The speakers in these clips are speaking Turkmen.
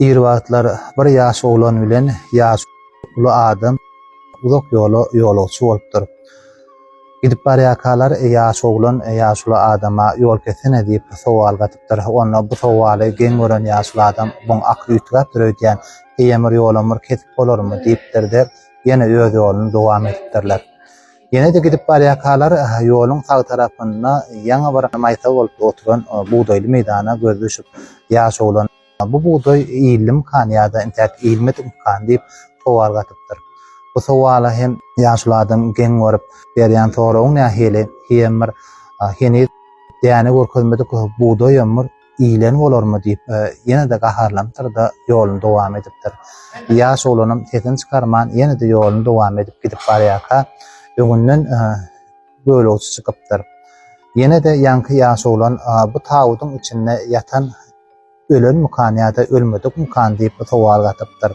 Ir wagtlar bir ýaş oglan bilen ýaş uly adam uzak ýola ýolagçy bolupdyr. Gidip barýarkalar ýaş oglan ýaş uly adama ýol kessene diýip sowal gatypdyr. Onda bu sowaly geň gören ýaş uly adam Muň akyly üýtgäpdir öýdýän, eýemir ýolumyr kesip bolarmy diýipdir-de, ýene öz ýoluny dowam edipdirler. Ýene-de gidip barýarkalar ýoluň sag tarapynda ýaňy bir maýsa bolup oturan bugdaýly meýdana gözi düşüp, ýaş oglan. Bu bugdaý iýildimikany ýa-da intäk iýilmedimikany diýip sowal gatypdyr. Bu sowala hem ýaşuly adam geň görüp, berýän soragy nähili, Hijem bir heniz däne görkezmedik bugdaýam bir iýilen bolarmy diýip, ýene-de gaharlanypdyr-da, ýoluny dowam edipdir. Ýaş oglanam sesini çykarman, ýene-de ýoluny dowam edip gidip barýarka, öňünden gölegçi çykypdyr. Ýene-de ýaňky ýaş oglan bu tabydyň içinde ýatan Ölenmikan ýa-da ölmedikmikan diýip bu sowal gatypdyr.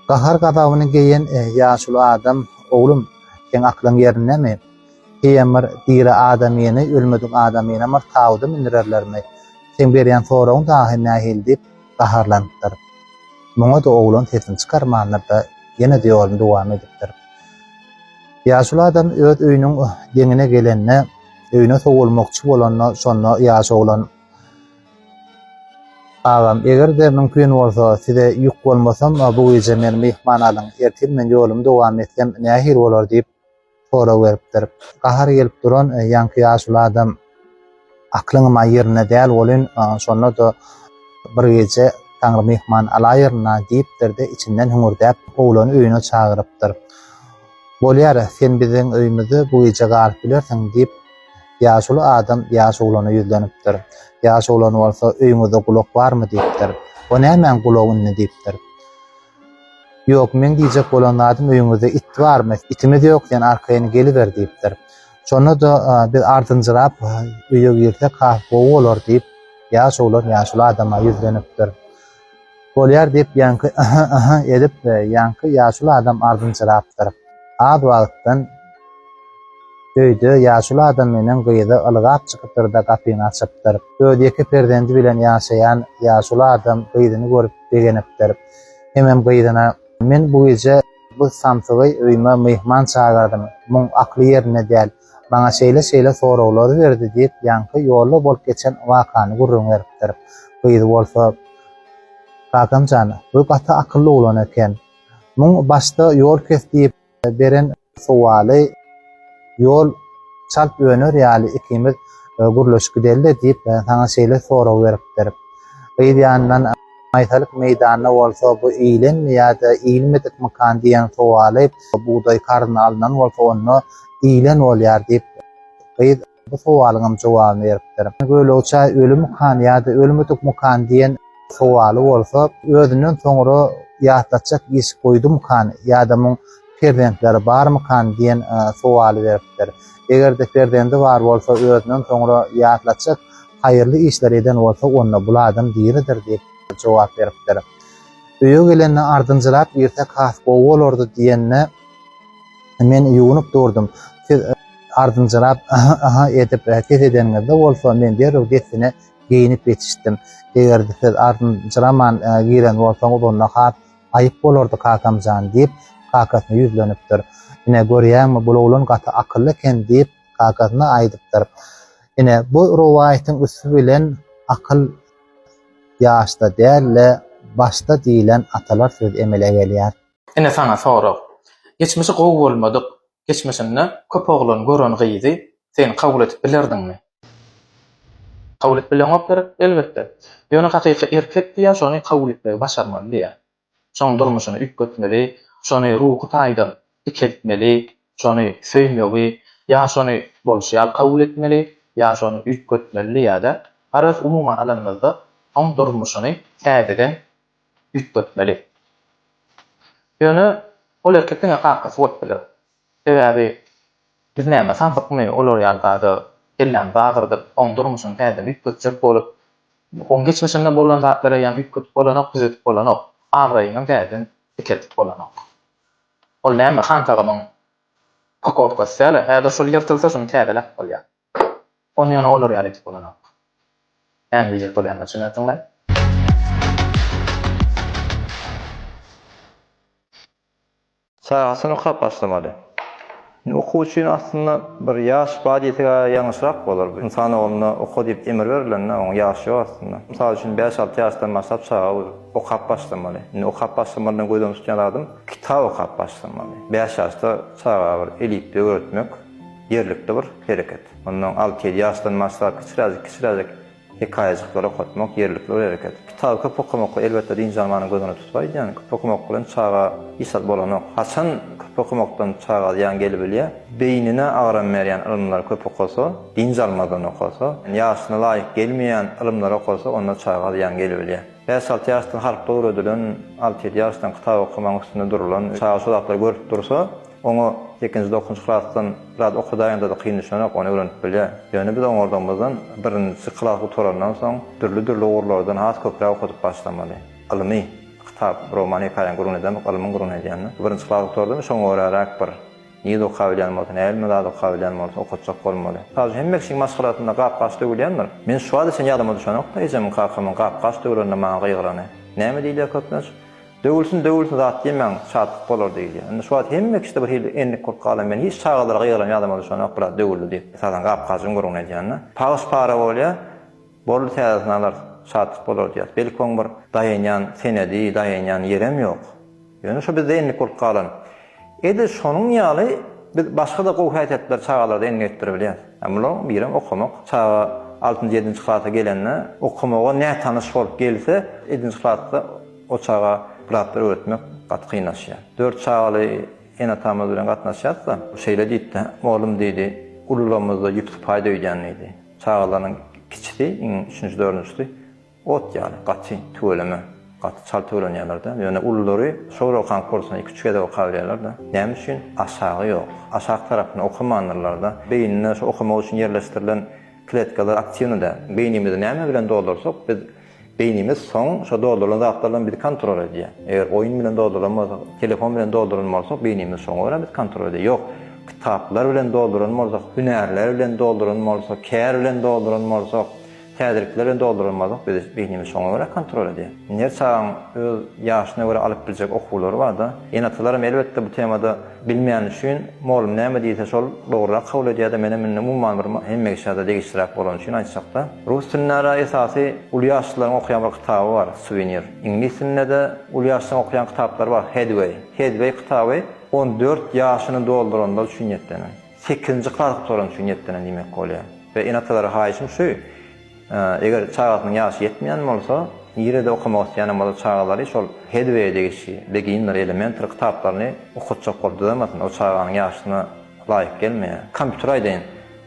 Gahar-gazabyny geýen ýaşuly adam, Oglum, seň aklyň ýerindemi? Heýem bir diri adamyny, ölmedik adamyny bir tabyda mündürerlermi? Seň berýän soragyň dagy nähili diýip gaharlanypdyr. Muňa-da oglan sesini çykarmandyr-da, ýene-de ýoluny dowam edipdir. Ýaşuly adam öz öýüniň deňine gelende, öýüne sowulmakçy bolanda, şonda ýaş oglan. Agam, eger-de mümkin bolsa, size ýük bolmasam, bu gije meni myhman alyň. Ertir men ýolumy dowam etsem, nähili bolar? diýip, sorag beripdir. Gahary gelip duran ýaňky ýaşuly adam, Aklyňam-a ýerinde däl welin, şonda-da bir gije Taňry myhman alaýyryn-a, diýipdir-de, içinden hüňürdäp, oglany öýüne çagyrypdyr. Bolýar, sen biziň öýümizde bu gije galyp bilersiň, diýip, Ýaşuly adam ýaş oglana ýüzlenipdir. Ýaş oglan bolsa, Öýüňizde gulak barmy? diýipdir. O nämäň gulak indi? diýipdir. Ýok, meň diýjek bolan zadym, öýüňizde it barmy? Itimiz ýok, sen arkaýyn geliber diýipdir. Şonda-da biz ardynjyrap öýe girsek has gowy bolar diýip, ýaş oglan ýaşuly adama ýüzlenipdir. Bolýar, diýip, ýaňky yhy-yhy edip, ýaňky ýaşuly adam ardynjyrapdyr. Az wagtdan öýde ýaşuly adam meniň gyzy ylgap çykypdyr-da, gapyny açypdyr. Öz ýeke perzendi bilen ýaşaýan ýaşuly adam gyzyny görüp begenipdir. Hemem gyzyna, Men bu gije bu samsygy öýüme myhman çagyrdym. Muň akly ýerinde däl. Maňa şeýle-şeýle soraglary berdi diýip, ýaňky ýolda bolup geçen wakany gürrüň beripdir. Gyz bolsa, Kakam jan, bu gaty akylly oglan eken. Muň başda ýol kes diýip beren sowaly ýol çalt öner ýaly ikimiz gürleşip gideli-de diýip, saňa şeýle sorag beripdir. Gyz ýanyndan. Maýsalyk meýdanda bolsa bu iýlenmi ýa-da iýilmedikmikan diýen sowaly bugdaý karyna alnan bolsa onda iýlen bolýar diýip, gyz bu sowalyňam jogabyny beripdir. Göwlegi çaý ölümikan ýa-da ölmedikmikan diýen sowaly bolsa özünden soňra ýatlatjak iş goýdumikan ýa-da muň perzentleri barmykan diýen sowaly beripdir. Eger-de perzendi bar bolsa özünden soňra ýatlatjak Haýyrly işler eden bolsa, onda bul adam diridir diýip, jogap beripdir. Öýe gelende ardynjyrap girsek has gowy bolardy diýende, men ýuwunyp durdum. Siz ardynjyrap yhy-yhy edip ses edeniňizde bolsa, men derrew dessine geýinip ýetişdim. Eger-de siz ardynjyraman giren bolsaňyz, onda has aýyp bolardy kakam jan, diýip, kakasyna ýüzlenipdir. Ine, görýäňmi, bul oglan gaty akylly eken, diýip, kakasyna aýdypdyr. Ine, bu rowaýatyň üsti bilen akyl ýaşda däl-de, başda diýlen atalar sözi emele gelýär. Ine saňa sorag. Geçmişi gowy bolmadyk geçmişinde köp oglan gören gyzy sen kabul edip bilerdiňmi? Kabul edip bileňok gerek, elbetde. Ýöne hakyky erkek diýýär, şony kabul etmegi başarmaly diýýär. Şoň durmuşyny üýtgetmeli, şony ruhy taýdan dikeltmeli, şony söýmegi, ýa şony bolşy ýaly kabul etmeli, ýa şony üýtgetmeli diýýär-de. Garaz, umuman alanymyzda, oň durmuşyny täzeden üýtgetmeli. Ýöne ol erkek diňe kakasy bolup biler. Sebäbi biz näme sazykmy olar ýaly zada kellämizi agyrdyp, oň durmuşyny täzeden üýtgetjek bolup, oň geçmişinde bolan zatlary ýa üýtgedip bolanok, düzedip bolanok, abraýyňam täzeden dikeldip bolanok. Ol näme Hantagamyň pakowkasy däl-ä, häzir şol ýyrtylsa şuny täzeläp bolýar. Ony ýöne olar ýaly edip bolanok. Näme diýjek bolýanyma düşünersiňler. Çagasyny okap başlamaly. Indi okuw üçin aslynda bir ýaş bar diýsek ýalňyşrak bolar. Ynsan ogluna oka diýip emir berilende onuň ýaşy ýok aslynda. Mysal üçin bäş-alty ýaşdan başlap çaga okap başlamaly. Indi okap başlamalydan gözden tutýan zadym kitap okap başlamaly. Bäş ýaşda çaga bir elipbe öwretmek ýerlikli bir hereket. Ondan alty-ýedi ýaşdan başlap kiçiräjik-kiçiräjik Hekaýajyklary okatmak, ýerlikli bir hereket. Kitaby köp okamak, elbetde, dynç almanyň gözüne tutup aýdýan. Köp okamak bilen çaga hiç zat bolanok. Haçan köp okamakdan çaga zyýan gelibilýär? Beýnine agram berýän ylymlary köp okasa, dynç almazdan okasa, ýaşyna laýyk gelmeýän ylymlary okasa, onda çaga zyýan gelibilýär. Bäş-alty ýaşdan harplar öwredilen, alty-ýedi ýaşdan kitap okamagyň üstünde durulan çaga şo zatlary görüp dursa, Oňa ilkinji dokuzynjy klasdan biraz okadaýyňda-da kyn düşenok, ony öwrenip bilýär. Ýöne biz oňardygymyzdan birinji klas gutarandan soň dürli-dürli ugurlardan has köpräk okadyp başlamaly. Ylmy kitap, roman-hekaýaň gürrüňini edemok, ylmyň gürrüňini edýän-de. Birinji klas gutardym, şoňa göräräk bir nýiz okap bilýän bolsa, näbilme zat okap bilýän bolsa okatjak bolmaly. Mysal üçin, hemme kişiň maşgalasynda gap-gaç döwülýändir. Men şu wagta çenli ýadyma düşenok-da ejemiň-kakamyň gap-gaç döwlende maňa gygyrany. Näme diýilýär köplenç? Döwülsin, döwülsin zat diýmäň, şatlyk bolar diýilýär. Indi şu wagt hemme kişide bir hili endik bolup galan, men hiç çagalaryga ýygran ýadama düşenok, biraz döwüldi diýip, esasan gap-gajygyň görgüni edýän-de. Pagyş-para bolýar, boldy täzesini alarys, şatlyk bolar diýýäs. Belki oň bir daýanýan senedi, daýanýan ýerem ýok. Ýöne şu bizde endik bolup galan. Edil şonuň ýaly biz başga-da gowy häsiýetleri çagalarda endik etdiribilýäs. Ýa bularyň birem okamak. Çaga altynjy-ýedinji klasa gelende, okamaga nätanyş bolup gelse, ýedinji klasda, O çaga bir zatlar öwretmek gaty kynlaşýar. Dört çagaly ene-atamyz bilen gatnaşýas-da, şeýle diýipdi, Oglum diýdi, ulularymyzda ýüp sypaýda öýdýän diýdi. Çagalarynyň kiçisi, iň üçünji, dördünjisi ot ýaly, gaty tüweleme, gaty çalt tüwelenýärler-de. Ýöne ululary şo bir okan kursyny iki-üç gezek okabilýärler-de. Näme üçin? Aşagy ýok. Aşak tarapyny okamandyrlar-da. Beýninde şu okamak üçin ýerleşdirilen kletkalar aktiwny däl. Beýnimizi näme bilen doldursak, biz Beýnimiz soň şo doldurylan zatlar bilen bizi kontrol edýär. Eger oýun bilen doldurylan bolsak, telefon bilen doldurylan bolsak, beýnimiz şoňa görä bizi kontrol edýär. Ýok, kitaplar bilen doldurylan bolsak, hünärler bilen doldurylan bolsak, kär bilen doldurylan bolsak, täzelikler bilen doldurylan bolsak, bizi beýnimiz şoňa görä kontrol edýär. Indi her çagaň öz ýaşyna görä alyp biljek okuwlary barda, ene-atalaram elbetde bu temada, Bilmeýän üçin molum näme diýse şol dogrurak kabul edýärdi menem indi umuman bir hemme kişä-de degişliräk bolany üçin aýtjakda rus dilindära esasy uly ýaşlylaryň okaýan bir kitaby bar Suvenir iňlis dilinde-de uly ýaşlaryň okaýan kitaplary bar Headway Headway kitaby on dört ýaşyny dolduranlar üçin niýetlenen sekizinji klas gutaran üçin niýetlenen diýmek bolýar we ene-atalara haýyşym şu Eger çagasynyň ýaşy ýetmeýän bolsa, nirede okamak isleýänem bolsa çagalary şol Headway-e degişli Beginner, Elementary kitaplaryny okatjak bolup düzemesin, o çaganyň ýaşyna laýyk gelmeýär. Kompýuter aýdaýyn,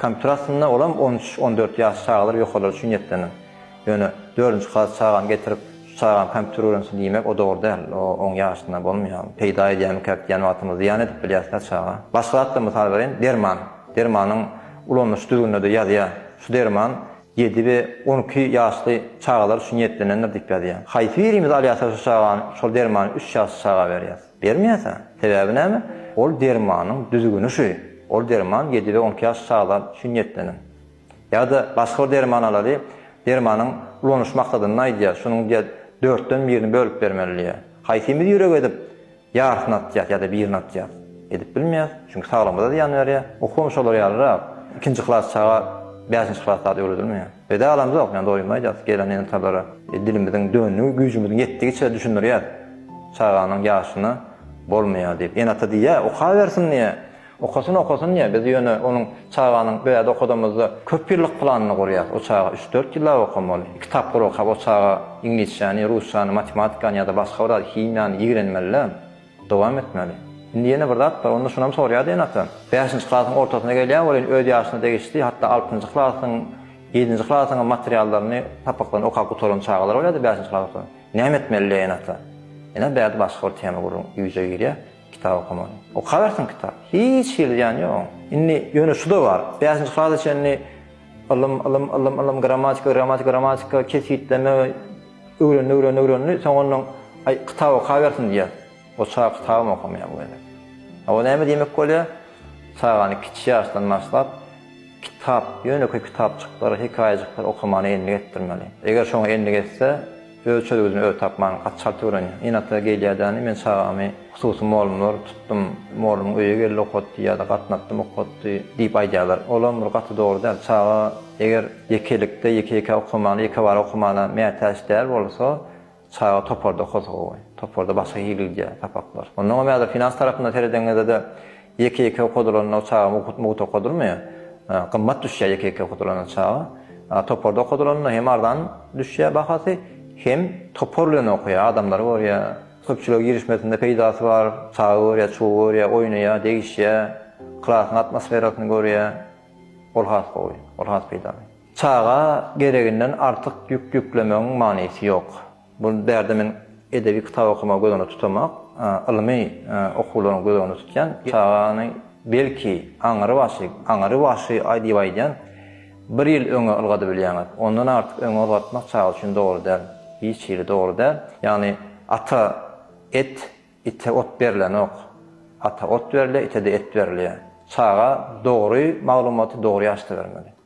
kompýuter aslynda olam on üç, on dört ýaş çagalar ýokarlar üçin niýetlenen. Ýöne dördünji klas çagany getirip, şu çagam kompýuter öwrensin diýmek o dogry däl, o oň ýaşyna bolmaýar. Peýda edýärmikäk diýýän wagtymyz zyýan edip bilýäs-dä çaga. Başga zatlar mysal bereýin, derman, dermanyň Ulanyş düzgüninde-de ýazýar, şu derman ýedi we on iki ýaşly çagalar üçin niýetlenendir diýip ýazýar. Haýsy birimiz alýarsa şu çagany, şol dermany üç ýaşly çaga berýäs? Bermeýäs-ä. Sebäbi näme? Ol dermanyň düzgüni şu, ol derman ýedi we on iki ýaşly çagalar üçin niýetlenen. Ýa-da başga bir derman alaly, dermanyň ulanyş maksadyny aýdýar, şunuň diýýär dörtden birini bölüp bermeli diýýär. Haýsymyz ýürek edip, Ýarysyny atýas ýa-da birini atýas. Edip bilmeýas. Çünki saglygyma-da zyýan berýär. Okuwam şolar ýalyrak. Ikinji klas çaga bäşinji klas zat öwredilmeýär. Biz alamzok, ýöne doýunma aýdýas gelen ene-atalara. Dilimiziň döndigi, güýjümiziň ýetdigiçe düşündirýäs. Çaganyň ýaşyna bolmaýar diýip. Ene-ata diýýär, okabersin diýýär. Okasyn okasyn diýä biz ýöne onuň çaganyň bärde okadamyzda köp ýyllyk planyny gurýas o çaga üç dört ýyllap okamaly iki tapgyr okap o çaga iňlisçäni rusçany matematikany ýada başga bir zat himiýany ýigrenmelidä dowam etmeli indi ýene bir zat bar onda şunam sorýady enata bäşinji klasyň ortasyna gelýä welin öz ýaşyna degişli hatda altynjy klasyň ýedinji klasyňam materiallaryny sapaklaryny okap gutaran çagalar bolýady bäşinji klas näme etmelidä enata ene bärde başga bir tema gürrüň ýüze girýä. Kitap okamaly. Okawersin kitap. Hiç hili zyýany ýok oň. Indi ýöne şu-da bar. Bäşinji klasa çenli ylym, ylym, ylym, ylym, grammatika, grammatika, grammatika, kesgitleme öwrendi, öwrendi, öwrendi. Soň onnoň, Aý, kitap okawersin diýýär. O çag kitabam okamaýar bu gezek. A o näme diýmek bolýar? Çagany kiçi ýaşdan başlap, kitap, ýönekeý kitapjyklar, hekaýajyklar okamana endik etdirmeli. Eger şoňa endik etse, Öz çözgüdini özi tapman gaty çalt öwrenýär. Ynatly gelýädäni men çagamy hususy molumlar tutdum, molumyň öýe geldi okatdy ýa-da gatnatdym okatdy diýip aýdýarlar. Olam bir gaty dogry däl. Çaga eger ýekelikde, ýeke-ýekä okamana, ýekebara okamana mätäç däl bolsa, çaga toparda okasa gowy. Toparda başga hili gidýär sapaklar. Onnoňam ýa-da finans tarapyndan seredeňizde-de, Ýeke-ýeke okadylanda çaga mugt okadylmaýar. Gymmat düşýär ýeke-ýeke okadylanda çaga. Toparda okadylanda hem arzan düşýär bahasy, hem topar bilen okaýar, adamlary görýär. Köpçülige girişmesinde peýdasy bar, çaga görýär, çuga görýär, oýnaýar, degişýär, klasyň atmosferasyny görýär. Ol has gowy, ol has peýdaly. Çaga gereginden artyk ýük ýüklemegiň manysy ýok. Bu bärde men edebi kitap okamagy göz öňünde tutamak, ylmy okuwlaryňy göz öňünde tutýan çagany belki aňry başy, aňry başy diýip aýdýan bir ýyl öňe ylgadybilýäňiz. Ondan artyk öňe ylgatmak çaga üçin dogry däl. Hiç hili dogry däl. Ýagny ata et, ite ot berlenok. Ata ot berilýär, ite-de et berilýär. Çaga dogry maglumaty dogry ýaşda bermeli.